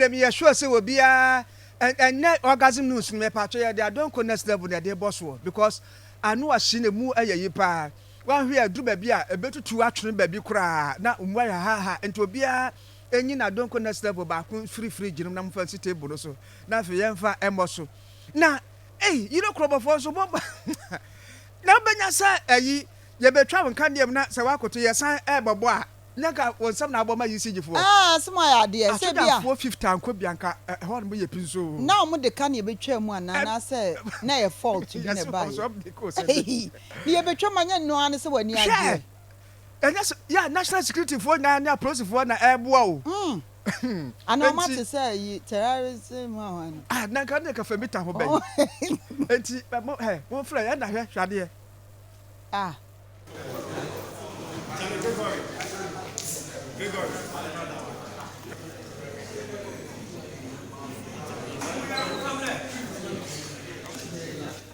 Afei meyɛ sure sɛ obiara ɛ ɛnɛ orgasm news no mepatwo yɛde adɔn kɔ next level na yɛde bɔ soɔ because ano ahye na emu ɛyɛ yi paa wahwɛ ɛduru baabi a ɛbɛtutu atwene baabi koraa na mu ayɛ haha nti obiara ɛnyi na adɔn kɔ next level baako mfiri fridge no na mofa nsi table no so na afei yɛmfa ɛmmɔ so na ei yire korɔbɔfoɔ nso mo na wobɛnya sɛ ɛyi yɛbɛtwa wo nkaneɛ mu na sɛ woakoto yɛsan ɛbɔbɔ a Nya ka wo nsɛm na abɔ ma yi sigye foɔ. Aa asem ayɛ adeɛ sɛ ebia. Asodafoɔ fifth anko bia nka ɛhɔ nom yɛ pins oo. Na ɔmo de ka na yɛbɛtwaa mu anaa anaasɛ na ɛyɛ fault bi na ɛbaeɛ? Eii na yɛbɛtwa mu anyɛ ɛno ara ne sɛ w'ani agyeɛ? Hwɛ! Ɛnyɛ sɛ yɛ national security foɔ nyinaa ne apolisifoɔ na ɛreboa o. Umm anaa ɔmo ate sɛ ayi terrorism hwan hwan no. Ah na nka ne nka Femita ho bɛn? Enti mo hɛ monfrɛ yɛn na hwɛ hwɛ adeɛ. Ah.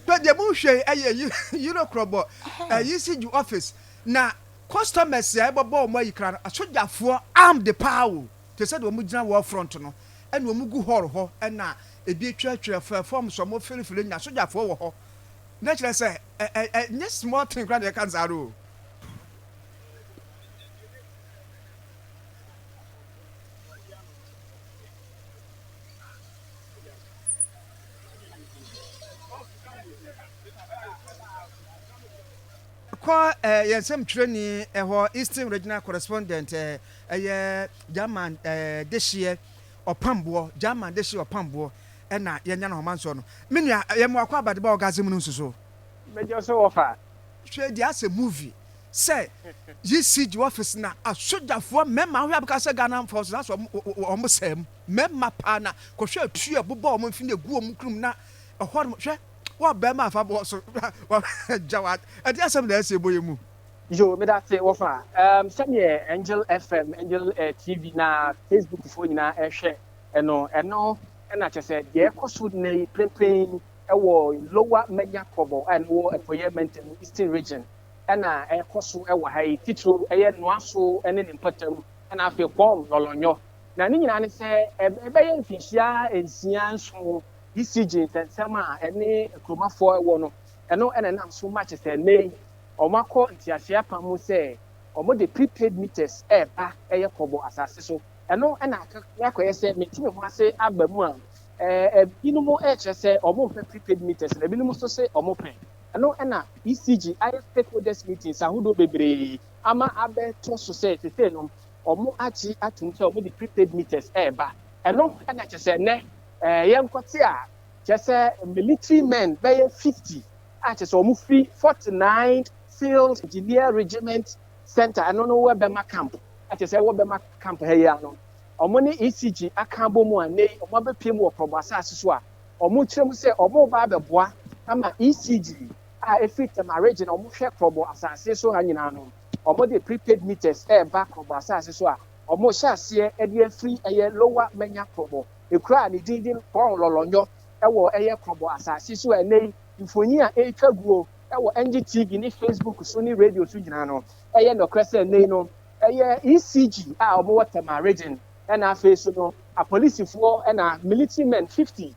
But the moon hwɛ ɛyɛ yiro krɔbɔ ɛyi si ju office na customers a ɛbɔ bɔ wɔn ayi kra no asogyafoɔ armed paa o te sɛ deɛ wɔn gyina war front no ɛna wɔn gu hall hɔ ɛna ebi atwa atwa fɛ fam so wɔn fili fili nya asogyafoɔ wɔ hɔ na kyerɛ sɛ Ɛ ɛ ɛ nyɛ small thing koraa na yɛka no saa no o. kɔ eh, yɛn nsɛm twerɛni ɛhɔ eh, eastern regional correspondent eh, ɛyɛ german eh, dehyeɛ ɔpamboɔ german dehyeɛ ɔpamboɔ na yɛnya no hɔma nsɔ no. Me nua, yɛ me w'akɔ abade ba orgasm no nsuso. Mɛgya so wɔ fa. Hwɛ deɛ asɛ movie sɛ yi si gye office na asogyafoɔ mmɛma ahoyɛ abɛka sɛ Ghana mfɔ so na sɛ ɔmo sɛɛ mu mmɛma paa na kɔhwɛ atuo a ɛbobɔ ɔmo mfini egu ɔmo kunu mu na ɛhɔ nom hwɛ wɔ bɛma afa bɔ so wɔ gya wɔ ɛde asɛm na ɛsɛ ɛbɔ yɛ mu. Yo medase wɔ fa. Erm sɛdeɛ Angel FM, Angel TV na Facebook foɔ nyinaa ɛhwɛ. Ɛno ɛno na kyerɛ sɛ deɛ ɛrekɔ so nnɛ yi prempren wɔ Lower Manya Krobo a ɛwɔ Apueeɛ Mantam, Eastern Region, na ɛrekɔ so wɔ ha yi, titiriw ɛyɛ Noaso ne ne mpatam, na afei Kpɔɔm, Lɔlɔnyɔ. Na ne nyinaa ne sɛ ɛbɛyɛ mfinhyia nsia, nson BCG nsɛnsɛm a ɛne Nkromafoɔ wɔ no, ɛno na ɛnam so ma kyerɛ sɛ nnɛ yi wɔakɔ nteaseɛ apam mu sɛ wɔde prepaid meters reba ɛyɛ Krobo asase so. Ɛno na aka na akɔyɛ sɛ mete me ho ase aba mu a, ɛɛ, ebinom rekyerɛ sɛ wɔmpɛ prepaid meters na ebinom nso se wɔpɛ. Ɛno na ECG ayɛ stakeholders meetings ahodoɔ bebree ama abɛto so sɛ sesei no wɔagye atom sɛ wɔde prepaid meters reba. Ɛno na kyerɛ sɛ nnɛ ɛɛ, yɛnkɔte a, kyerɛ sɛ military men bɛyɛ 50 a kyerɛ sɛ wɔfiri 49th Field Engineer Regiment Centre, ɛno no Webema Camp, a kyerɛ sɛ wɔbɛma camp ha yi ano. Wɔn ne ECG aka abom a nnɛ yi wɔabɛpue mu wɔ Prɔbo asase so a wɔkyerɛ mu sɛ wɔreba abɛboa ama ECG a ɛfiri Tema Region a wɔhwɛ Prɔbo asase so ha nyinaa no. Wɔde prepaid meters reba Prɔbo asase so a wɔhyɛ aseɛ de afiri ɛyɛ Lower Manya Prɔbo, ekuro a ne din de Kpɔn Lɔlɔnyɔ wɔ ɛyɛ Prɔbo asase so a nnɛ yi mfoni a ɛretwa guo wɔ NGTV ne Facebook so ne radio so nyinaa no Ɛyɛ nokorɛ sɛ nnɛyi no ɛyɛ ECG a wɔwɔ Tema Region ɛna afei nso no apolisifoɔ ɛna military men fifty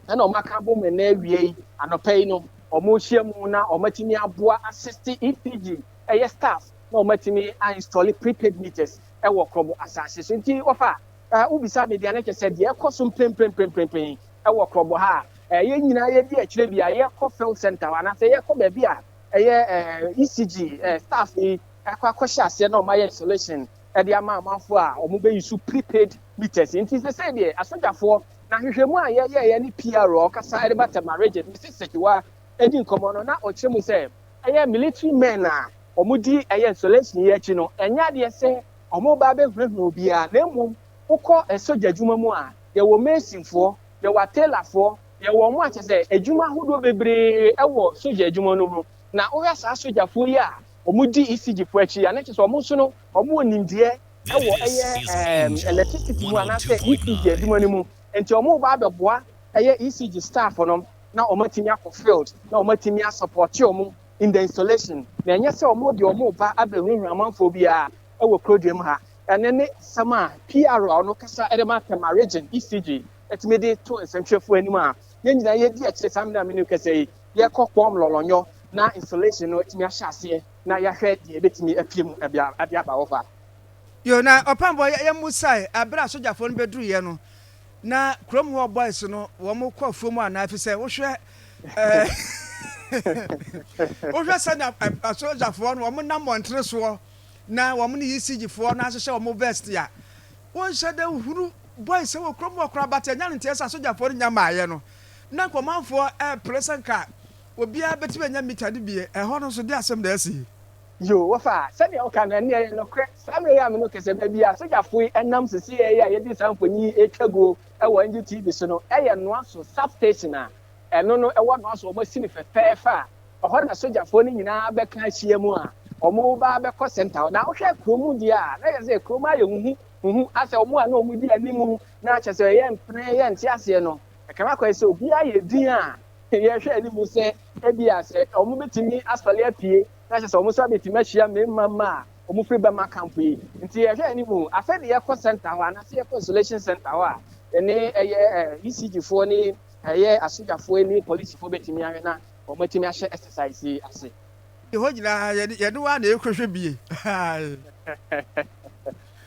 ɛna wɔn aka abom ɛnɛ awia yi anɔpa yi no wɔrehyia mu na wɔatumi aboa assist ECG ɛyɛ staff na wɔatumi a install prepaid meters ɛwɔ Krobo asaase so nti wɔfa ɛɛ wobisa me deɛ ne kyɛ sɛ deɛ ɛkɔ so mpremprenprempren ɛwɔ Krobo ha a ɛɛ yɛn nyinaa yɛdi akyire bi a yɛkɔ field center hɔ anaasɛ yɛkɔ baabi a ɛyɛ eh, ECG eh, staff yi ɛkɔ akɔhyɛ aseɛ na wɔayɛ installation ɛde ama amanfoɔ a wɔbɛyi so prepaid meters nti sɛ sɛ deɛ asogyafoɔ na hwehwɛmu a yɛyɛeɛ ne PR a ɔkasa ɛde ba Tɛma Regent Mrs Sekiwa ɛdi nkɔmmɔ no na ɔkyerɛ mu sɛ ɛyɛ military men a wɔdi ɛyɛ installation yi akyi no ɛnyɛ adeɛ sɛ wɔba abɛhunahuna obiara na mmom wokɔ ɛsogya adwuma mu a yɛwɔ masonfoɔ yɛwɔ atelafoɔ Yɛwɔ wɔn a kyerɛ sɛ adwuma ahodoɔ bebree wɔ sogya adwuma no mu. Na wohwɛ saa sogyafoɔ yi a wɔdi ECG foɔ akyi a, na kyerɛ sɛ wɔn nso no wɔwɔ nimdeɛ wɔ ɛyɛ electricity mu anaasɛ ECG adwuma no mu. Nti wɔreba abɛboa ɛyɛ ECG staff no na wɔn atumi akɔ field na wɔn atumi a support wɔn in the installation. Na ɛnyɛ sɛ wɔn deɛ wɔn reba abɛhurahura amanfoɔ biara wɔ kuroduam ha. Ɛno ne asɛm a PRO no kasa de ma Tema Region ECG atumi de to nsɛntwerɛfoɔ anim a yɛn nyinaa yɛdi akyire saa mmerɛ a menim kɛsɛ yi yɛkɔ kɔm lɔlɔnyɔ na installation no atumi ahyɛ aseɛ na yɛahwɛ deɛ ɛbɛtumi apue mu ɛde aba hɔ fa yo na ɔpambɔ yɛmusae aberɛ a sogyafoɔ no bɛduruiɛ no na kurom hɔ boys no wɔn kɔ afuo mu anaa fi sɛ wohwɛ wohwɛ sɛnea asogyafoɔ no wɔn nam mmɔntene soɔ na wɔn ne ECGfoɔ no ahyehyɛ wɔn vest a wonhyɛ dɛ hunu bɔe sɛ wɔ kurom hɔ koraa but ɛnyɛ ade nteɛ sɛ asogyafoɔ no nya maeɛ no na anka ɔmanfoɔ ɛɛpere sɛ anka obiara bɛtumi anya mita no bi, ɛhɔ no nso deɛ asɛm na asi yi. Yoo wɔfa a sɛdeɛ wo ka no ɛno ɛyɛ nokorɛ saa mmerɛ yi a me ne wo kasa baabi a asogyafoɔ yi ɛnam sesei yi a yɛde saa mfoni yi ɛretwa guo ɛwɔ NGTV so no ɛyɛ Noaso sub station a ɛno no ɛwɔ Noaso wɔn asi no fɛfɛɛfɛ a ɛhɔ na asogyafoɔ no nyinaa bɛka ahyia mu a wɔn reba abɛkɔ center hɔ na wo hwɛ kurom deɛ a na kyerɛ sɛ kurom ayɛ huhu Huhu a sɛ wɔn a na wɔdi anim na kyerɛ sɛ yɛmpene, yɛnte aseɛ no, ɛka no kɔɛ sɛ obiara ayɛ din a yɛhwɛ anim sɛ ebia sɛ wɔbɛtumi asɔre apue na kyerɛ sɛ wɔn nso abɛtumi ahyia mmarima mma a wɔfiri Burma camp yi. Nti yɛhwɛ anim. Afei de yɛkɔ center hɔ anaasɛ yɛkɔ isolation center hɔ a yɛne ɛyɛ ECG foɔ ne ɛyɛ asogyafoɔ ne polisifoɔ bɛtumi ahwɛ na wɔatumi ahyɛ exercise yi ase. Yɛdi hɔ nyinaa yɛde yɛn ho ara na yɛkɔhwɛ bie.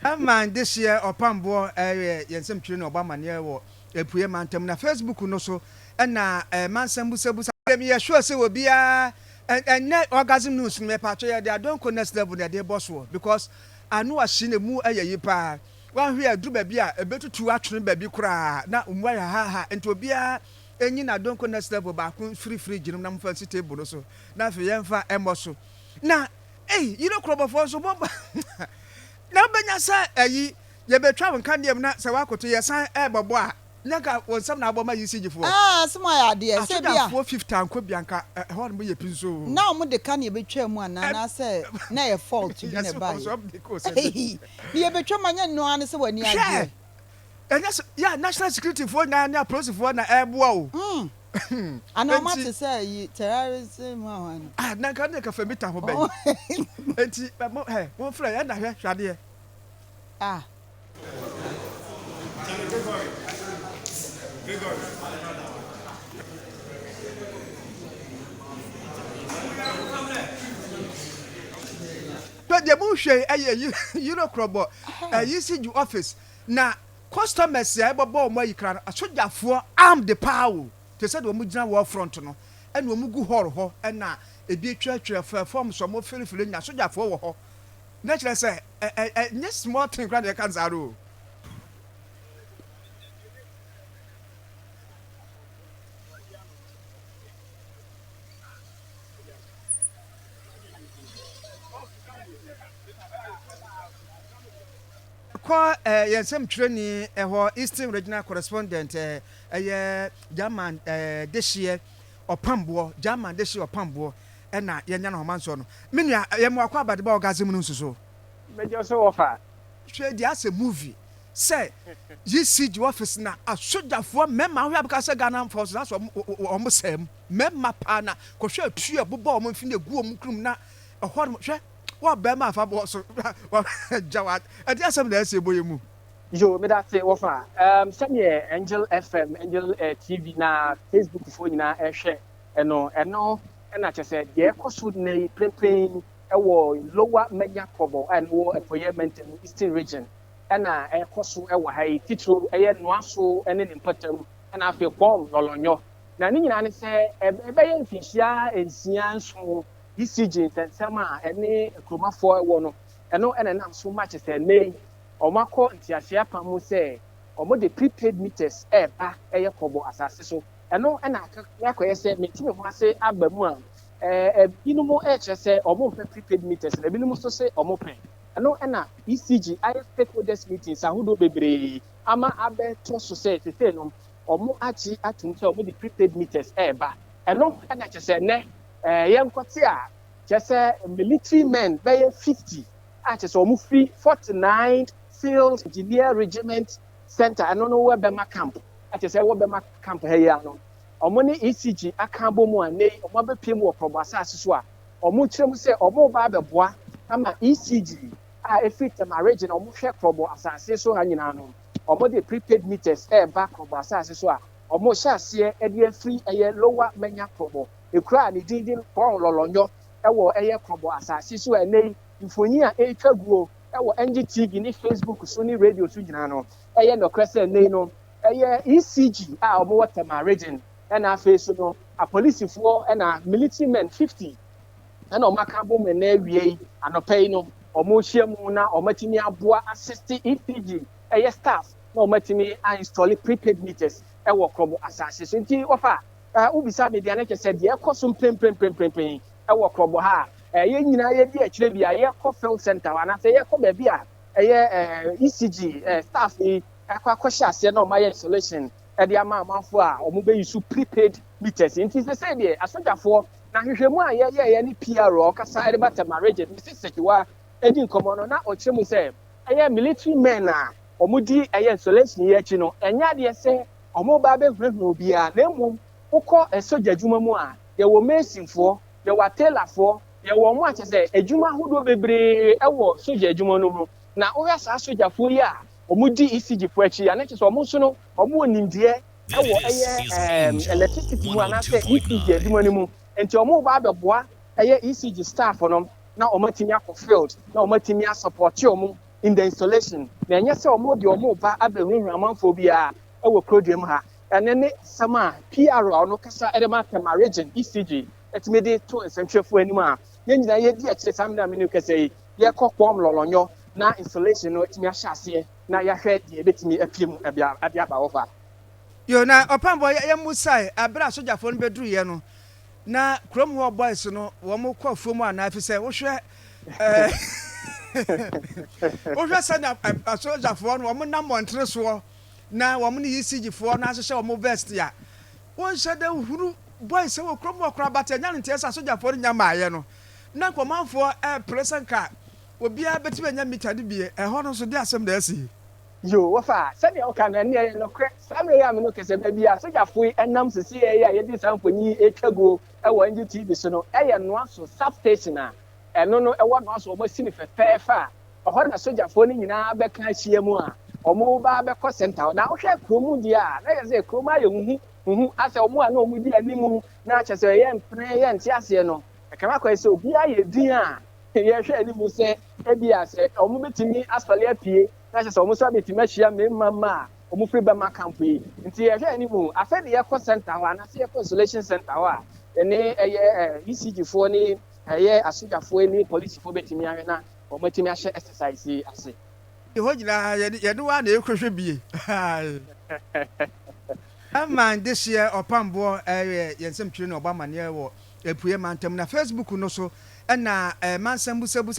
Herman Dehyeɛ Ɔpamboɔ yɛ yɛn nsɛmtwerɛni a ɔbɔ amanneɛ wɔ Apueɛ Mantam na Facebook no so na Mansɛm Busabusa. Afei meyɛ sure sɛ obiara ɛnnɛ Orgasm News no mɛpaatwɔ yɛde Adom Kɔ Next Level na yɛde rebɔ soɔ because ano ahye na ɛmu yɛ yi paa. Woanhwɛ a ɛduru baabi a ɛbɛtutu atwene baabi koraa na mu ayɛ haha nti obiara Enyi na donko next level baako mfiri fridge no mu na momfa nsi table no so na afei yɛmfa mmɔ so. Na ei yere korɔbɔfoɔ nso bɔ bɔ na wobɛnya sɛ ayi yɛbɛtwa wo nkanea mu na sɛ woakoto yɛsan rebɛbɔ a nyɛ nka wo nsɛm na abɔ ma ECG foɔ. Aa asem ayɛ adeɛ sɛ bi a. Asogyafoɔ fifth ankɔ bi a nka ɛhɔ nom yɛ pins oo. Na wɔn de kanea bɛtwaa mu anaa anaasɛ na ɛyɛ fault bi na ɛbaeɛ? Ei na yɛbɛtwa mu a nyɛ ɛno ara ne sɛ w'ani agyeɛ. Ɛnyɛ sɛ yɛ a national security foɔ nyinaa ne apolisifoɔ na ɛreboa o. Umm anaa ɔmo ate sɛ ayi terrorism ho ahoa no. Ah na nka ne ka fɛ mita ho bɛn. Enti mo hɛ mo nfrɛ yɛ na hwɛ hwɛ adeɛ. Ah. Hwɛ deɛ mo hwɛ yi ɛyɛ yire korɔbɔ ɛyi si ju office. Na customers a ɛbɛbɔ wɔn ayi koraa no asogyafoɔ armed paa o te sɛ deɛ wɔn gyina war front no ɛna wɔn gu hall hɔ ɛna ebi atwa atwa fɛ forms wɔn fili fili nyinaa asogyafoɔ wɔ hɔ na kyerɛ sɛ ɛ ɛ ɛ nyɛ small thing koraa na yɛka nsaa no o. Kɔ yɛn nsɛmtwerɛni hɔ, Eastern Regional Correspondent, ɛyɛ German dehyeɛ ɔpamboɔ, German dehyeɛ ɔpamboɔ na yɛanya no hɔ, Mansoor no. Me nua, yɛn mmoa kɔ abadeba orgasm no nsuso. Mɛgya so wɔ fa. Hwɛ deɛ asɛ movie sɛ ECG office na asogyafoɔ mmɛma hwɛ abɛka sɛ Ghana force na asɛ wɔn sɛɛ mu mmɛma paa na kɔhwɛ atuo ɛbobɔ wɔn mfini egu wɔn krom na ɛhɔ nom hwɛ Wɔ bɛɛma afa bɔɔ so wa gya wa ɛde asɛm na ɛsɛ bɔ yɛ mu. Yo meda se wɔ fa um, sɛdeɛ Angel FM, Angel eh, TV na Facebook foɔ nyinaa ɛhwɛ ɛno, ɛno ɛna kyɛ sɛ deɛ ɛkɔ so nnɛ yi prempren ɛwɔ Lower Manya Krobo a ɛno wɔ Apueɛ Mantamu Eastern Region ɛna ɛkɔ so ɛwɔ ha yi, titiriw ɛyɛ Noaso ɛne ne mpatam ɛna afei Kwɔm Lɔlɔnyɔ. Na ne nyinaa ne sɛ ɛbɛyɛ mfinhyia nsia nson BCG nsɛnsɛm a ɛne Nkrumahfoɔ wɔ no, ɛno na ɛnam so ma kyerɛ sɛ ɛnnɛ yi wɔakɔ nteaseɛ apam mu sɛ wɔde prepaid meters reba yɛ kɔbɔ asase so. Ɛno na aka na akɔyɛ sɛ menti me ho ase aba mu a, ebinom rekyerɛ sɛ wɔmpɛ prepaid meters na ebinom nso se wɔpɛ. Ɛno na BCG ayɛ stakeholders meetings ahodoɔ bebree ama abɛtɔ so sɛ seisei no wɔagye atom sɛ wɔde prepaid meters reba. Ɛno na kyerɛ sɛ ɛnnɛ Ɛɛ yɛnkɔte a, kyerɛ sɛ military men bɛyɛ 50 a kyerɛ sɛ wɔn firi 49th Field Engineer Regiment Centre, ɛno no wɔ Bɛma Camp, a kyerɛ sɛ wɔ Bɛma Camp ha yi ara no, wɔn ne ECG aka abɔ mu a nnɛ yi wɔn abɛpue mu wɔ Prɔbo asaase so a wɔkyerɛ mu sɛ wɔn reba abɛboa ama ECG a ɛfiri Tema Region a wɔn hwɛ Prɔbo asaase so ha nyinaa no, wɔn de prepaid meters ɛreba Prɔbo asaase so a wɔn hyɛ aseɛ ɛde afiri ɛyɛ Lower Manya Prɔbo. ekura a ne din de Pɔn Lɔlɔnyɔ wɔ ɛyɛ Krɔbɔ asase so a ɛnnɛ yi mfoni a ɛretwa guo wɔ NG TV ne Facebook so ne radio so nyinaa no, ɛyɛ nɔkorɛ sɛ ɛnnɛ yi no ɛyɛ ECG a wɔwɔ Tema Region ɛna afei nso no apolisifoɔ ɛna military men 50 ɛna wɔn aka abom ɛnnɛ awia yi anɔpa yi no wɔrehyia mu na wɔatumi aboa assist ECG ɛyɛ staff na wɔatumi a install prepaid meters ɛwɔ Krɔbɔ asase so nti wɔfa Eh, wobisa me deɛ ne kyɛ sɛ deɛ ɛkɔ so mpremprenprempren ɛwɔ korɔbɔ ha a, eh, yɛn nyinaa yɛdi akyire bi a yɛkɔ field center hɔ anaasɛ yɛkɔ baabi a ɛyɛ eh, ECG eh, staff yi ɛkɔ akɔhyɛ aseɛ na wɔayɛ installation ɛde ama amanfoɔ a wɔbɛyi so prepaid meters nti sɛ sɛ deɛ asogyafoɔ na hwehwɛmu a yɛyɛeɛ ne PR a ɔkasa ɛde ba Tɛma Regent Mrs. Sekiwa ɛdi nkɔmmɔ no na ɔkyerɛ mu sɛ ɛyɛ military men a wɔdi ɛyɛ installation yi akyi no ɛnyɛ adeɛ sɛ wɔreba abɛhunahuna obiara, na mmom wokɔ sogya adwuma mu a, yɛwɔ masonfoɔ, yɛwɔ tailorfoɔ, yɛwɔ wɔn a kyerɛ sɛ adwuma ahodoɔ bebree wɔ sogya adwuma no mu. Na wohwɛ saa sogyafoɔ yi a wɔdi ECGfoɔ akyi a, na kyerɛ sɛ wɔn nso no, wɔwɔ nimdeɛ wɔ ɛyɛ electricity mu anaasɛ ECG adwuma no mu. Enti wɔreba abɛboa ɛyɛ ECG staff no na wɔatumi akɔ field na wɔatumi asɔpɔɔte wɔn. in the installation na ɛnyɛ sɛ wɔn de wɔn ba abɛhunahuna amanfoɔ biara wɔ kuroduam ha. Ɛno ne nsɛm a PR a ɔno kasa de ma Tema Region, ECG, tumi de to nsɛntwerɛfoɔ anim a yɛn nyinaa yɛdi akyire saa mmerɛ a menim kasa yi yɛkɔ Kpɔm Lɔlɔnyɔ na installation no atumi ahyɛ aseɛ na yɛahwɛ deɛ ɛbɛtumi apue mu de aba hɔ fa. Yoo, na Ɔpɛnbɔ yɛmmusae berɛ a sogyafoɔ no bɛduruiɛ no, Na kurom hɔ boys no wɔn kɔ afuom anaa efisɛ wohwɛ ɛɛ wohwɛ sɛnea asogyafoɔ no wɔn nam mmɔntene soɔ na wɔn ne ECG foɔ no ahyehyɛ wɔn vest a wɔnhyɛ dɛ hunu boys wɔ kurom hɔ koraa bata nya no nteɛ sɛ asogyafoɔ no nya maayɛ no na nkɔmanfoɔ ɛɛpere sɛ nka obiara bɛtumi anya mita no bie ɛhɔ no nso de asɛm na asi. Yoo, wɔfa a, sɛdeɛ woka no, ɛnneɛ ɛyɛ nokorɛ. Saa mmerɛ yi a me ne wo kasa bɛ bi a, sogyafo yi nam sesieɛ yi a yɛde saa mfoni yi retwa guo wɔ NGTV so no yɛ Noaso Sub Station a ɛno no ɛwɔ Noaso a wɔasi no fɛfɛɛfɛ a ɛhɔ na sogyafoɔ no nyinaa bɛka ahyia mu a wɔreba abɛkɔ center hɔ. Na wohwɛ kurom deɛ a, na kyerɛ sɛ kurom ayɛ huhu huhu asɛ wɔn a na wɔdi anim na kyerɛ sɛ yɛmpene yɛnte aseɛ no, ɛka no akɔyɛ sɛ obiara yɛ din a yɛhwɛ anim sɛ ebia sɛ wɔbɛtumi asɔre apue. na kyerɛ sɛ wɔn nso abɛtumi ahyia mmarima mma a wɔfiri bɛma kampo yi. Nti yɛhwɛ anim o, afei de yɛkɔ center hɔ anaasɛ yɛkɔ isolation center hɔ a, yɛne ɛyɛ ECG foɔ ne ɛyɛ asogyafoɔ ne polisifoɔ bɛtumi ahwɛ na wɔn atumi ahyɛ exercise yi ase. Yɛ hɔ nyinaa yɛne yɛne wo ara na yɛkɔhwɛ bie. Ɛman this year ɔpamboɔ ɛyɛ yɛn nsɛmtwerɛ ne ɔbɔ amaneɛ wɔ Apueɛ mantam na Facebook no so ɛna ɛma nsɛm busabusa.